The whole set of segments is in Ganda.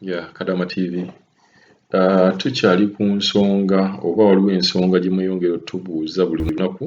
ya kadama tv uh, tukyali ku nsonga oba waliwo ensonga gye mweyongera otubuuza buli lunaku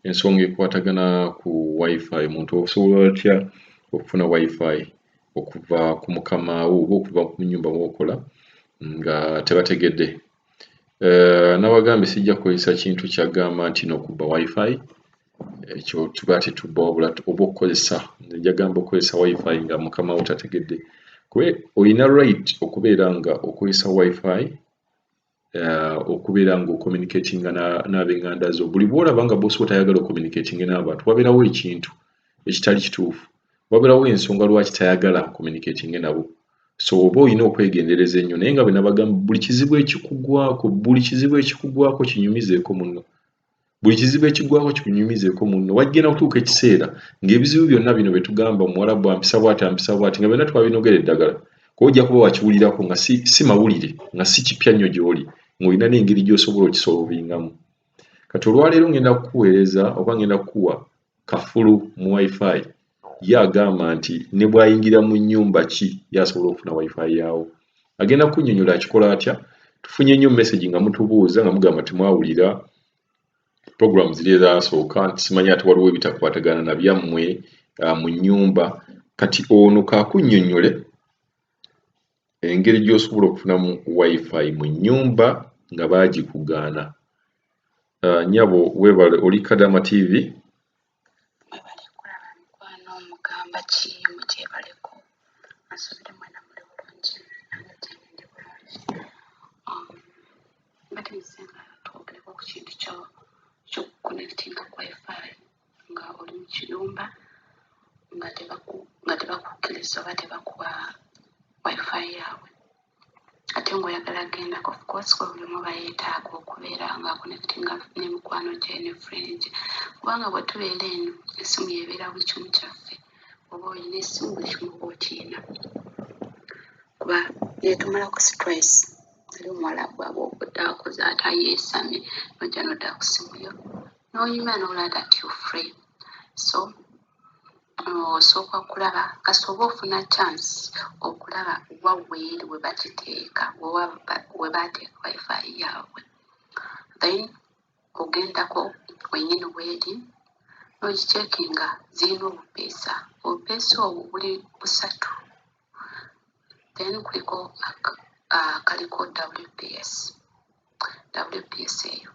ensonga ekwatagana ku wifi omuntu osobola otya okufuna wifi okuva ku mukamaawo oba okuva ku nyumba wokola nga tebategedde Eh, nabagambye sijja kukozesa kintu kyagamba nti nokuba wifi ekyo tuba tetubba wabula oba okukozesa njagamba okukozesa wifi nga mukama wo tategedde kwe olina right okubeera nga okozesa wifi eh, okubeera nga ocommunicatinga n'abenganda zo buli bwolaba nga bosi wotayagala ocommunicatinge n'abantu wabeerawo ekintu ekitali kituufu wabeerawo ensonga lwaki tayagala communicatinge nabo so oba olina okwegendereza ennyo naye nga bwe nabagamba buli kizibu ekikugwako buli kizibu ekikugwako kinyumizeeko munno buli kizibu ekigwako kikunyumizeeko munno wajjena kutuuka ekiseera ng'ebizibu byonna bino bye tugamba omuwalabu ampisa bwati ampisa bwati nga byonna twabinogera eddagala kuba ojja kuba wakiwulirako nga si, si mawulire nga si kipya nnyo gy'oli ng'olina n'engeri gy'osobola okisolovingamu kati olwaleero ngenda kukuweereza oba ngenda kukuwa kafulu mu wifi ye agamba nti ne bwayingira mu nyumba ki yasobola okufuna wifi yaawo agenda kunyonyola akikola atya tufunye nnyo message nga mutubuuza nga mugamba temwawulira program ziri ezasooka simanya ati waliwo ebitakwatagana na byammwe uh, mu nyumba kati ono kakunyonyole engeri gy'osobola okufunamu wifi mu nnyumba nga baagikugaana uh, nyabo webale oli kadama tv nga oli mu kiyumba nga tebakukkiriza oba tebakuwa wifi yaabwe ate ngaoyagala gendako ofcourse kwebulimu bayetaaga okubeera nga connectinga nemikwano gye ne friend kubanga bwe tubeera eno esimu yebeera buli kimu kyaffe oba olina esimu buli kimu oba okiina kuba netumalako stress ali omuwala gwaba okoze ate ayeesamye nojja nodda ku simu yo n'onyuma n'olaba that you free so osooka kulaba kasita oba ofuna chance okulaba wa weeri we bakiteeka we baateeka wifi yaabwe then ogendako wenyini weeri nogicekinga zirina obupeesa obupeesa obwo buli busatu then kuliko akaliko wps WPS eyo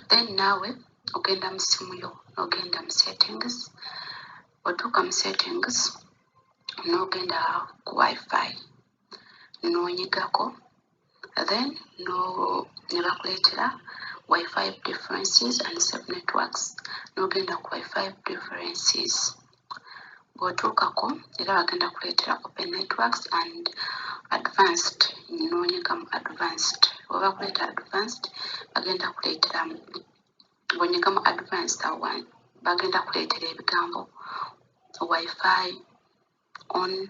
then naawe ogenda mu ssimu yo n'ogenda mu settings otuuka mu settings n'ogenda ku wifi n'onyigako then no ne bakuleetera wifi differences and sub networks n'ogenda ku wifi differences bw'otuukako era bagenda kuleetera open networks and advanced noonyega mu advanced oba bakuleeta advanced bagenda kuleetera bw'onyega mu advanced awo bagenda kuleetera ebigambo wifi on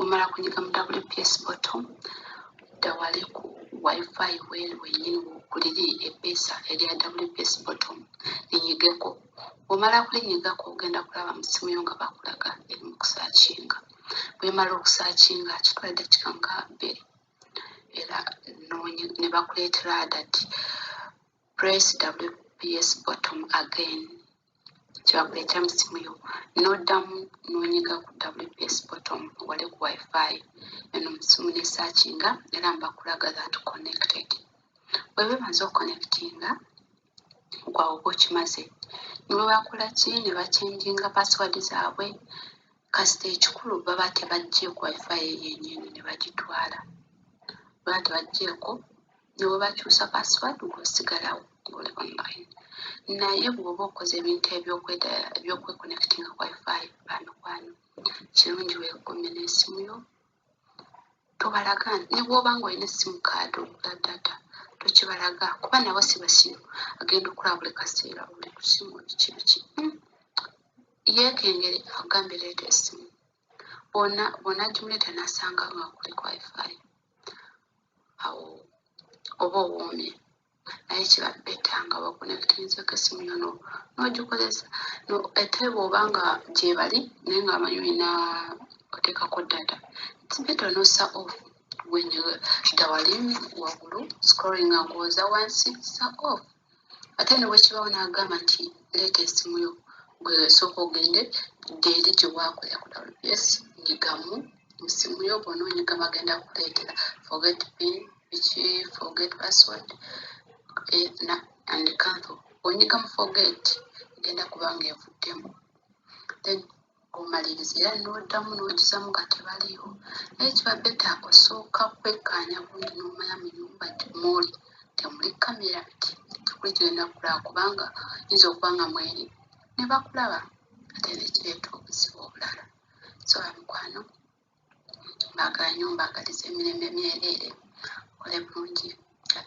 omala kunyiga mu wps bottom dawale ku wifi weli wenyini wokuliri epeesa erya wps bottom linyigeko omala kulinyigako ogenda kulaba mu simu yo nga bakulaga eri mu kusaakinga bwemala okusaakinga kitwala eddakika nga bbiri era ne bakuleetera adati press wps bottom again kyakuleta mu simu yo n'oddamu n'onyiga ku WPS bottom wali ku wifi eno mu simu ne searchinga era mba kulaga that connected bwe bimaze okuconnectinga gwawo oba okimaze ne bwe bakola ki ne bachenjinga password zaabwe kasita ekikulu baba tebajjeeko wifi eyo yennyini ne bagitwala baba tebaggyeko ne bwe bakyusa password gwe osigalawo ng'oli online naye bw'oba okoze ebintu ebyokwekonectinga ku wifi bamikwano kirungi weekuume n'esimu yo tobalaga ne bw'oba ng'olina essimu kaadi ogula data tokibalaga kuba nabo si basiru agenda okulaba buli kaseera oli ku simu biki biki hmm. yeekengere akugambe leeta esimu bw'onagimuleeta n'asanga nga kuli ku wifi awo oba owoomye naye kiba beta nga wakonekitenzeko esimu yo nogikozesa ate bwoba nga gyebali naye nga amanyi olina otekako data its beta onosa off wenyiga dawali wagulu scrolling nga oza wansi sa off ate ne bwe kibawo n'agamba nti leeta esimu yo gwe sooka ogende gyeri gye waakolera ku wps nyigamu mu simu yo bona onyiga bagenda kuleetera forget pin biki forget password eh, na and cancel onyiga mu forget egenda kuba nga evuddemu then omaliriza era n'oddamu n'okizamu nga tebaliiwo naye kiba beta osooka kwekkaanya bulungi n'omanya mu nyumba mwoli temuli kamera tekuli kigenda kukulaba kubanga yinza okuba nga mweri ne bakulaba ate nekireeta obuzibu obulala so bamikwano mbaagala nyo mbaagaliza emirembe myereere kole bulungi